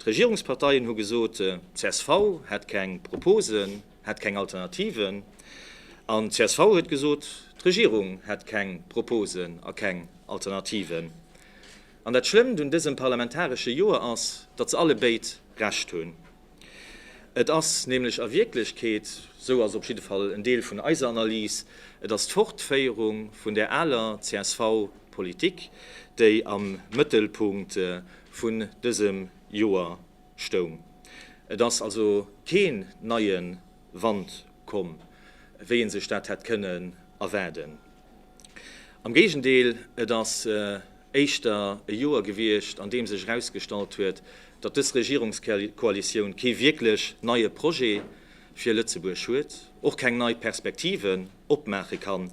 D'Regierungsparteien hu gesot, csv hätt keng Proposen, hätt keng Alternativen. An d'csv huet gesot, d'Regierung hätt keng Proposen a keng Alternativen. An dat Schlëmmt un dësem parlamentaresche Joer ass, datt se allebéid Recht hunn. Et ass nämlech a Wierklechkeet, sou ass op jidde Fall en Deel vun eiser Analys, et ass d'Fortféierung vun där aler csv-Politik, déi am Mëttelpunkt vun dësem Joer stoung. Et ass also keen neie Wand komm, wéi ee sech dat hätt kënnen erwaarden. Am Géigendeel, et ass éischter e Joer gewiescht, an deem sech erausgestallt huet, datt dës Regierungskoalitioun kee wierklech neie Projet fir Lëtzebuerg huet, och keng nei Perspektiven. opmaache kann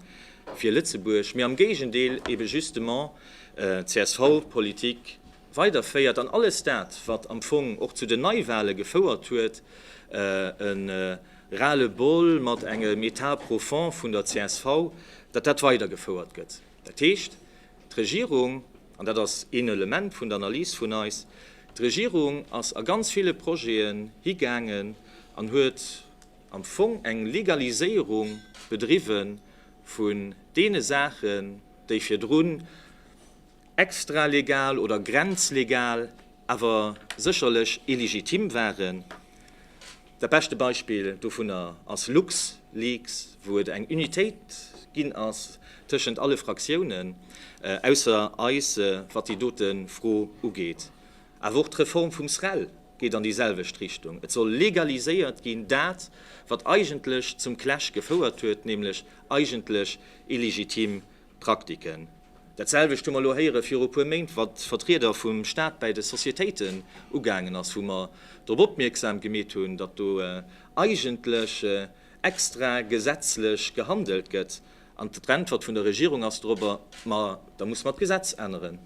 fir Lëtzebuerg, mee am Géigendeel ebe justement d'CSV-Politik weiderféiert an alles dat, wat am Fong och zu den Neiwale gefouert huet, e Ras-le-bol mat engem Etat profond vun der csv, datt dat weidergefouert gëtt. Dat heescht, d'Regierung, an dat ass een Element vun der Analys vun eis, d'Regierung ass a ganz ville Projeten higaangen an huet, am Fong eng Legaliséierung bedriwwe vun deene Saachen, déi virdrun extralegal oder grenzlegal, awer sécherlech illegitim waren. Dat beschte Beispill dovunner ass LuxLeaks, wou et eng Unitéit ginn ass tëschent alle Fraktiounen, ausser eis, wat déi dote Fro ugeet. Awer och d'Reform vum SREL, geet an déi selwecht Richtung. Et soll legaliséiert ginn, dat, wat eigentlech zum Clash gefouert huet, nämlech eigentlech illegitim Praktiken. Dat selwecht hu mer elo héiere viru e puer Méint, wat d'Vertrieder vum Stat bäi de Societéiten ugaangen ass, wou mer drop opmierksam gemeet hunn, datt do eigentlech extra gesetzlech gehandelt gëtt. An d'Äntwert vun der Regierung ass dorobber, Ma da muss mer d'Gesetz änneren.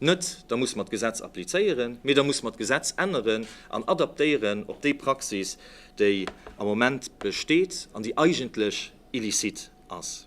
Net, da muss mer d'Gesetz applizéieren, mee da muss mer d'Gesetz änneren an adaptéieren op déi Praxis, déi am Moment besteet an déi eigentlech illicite ass.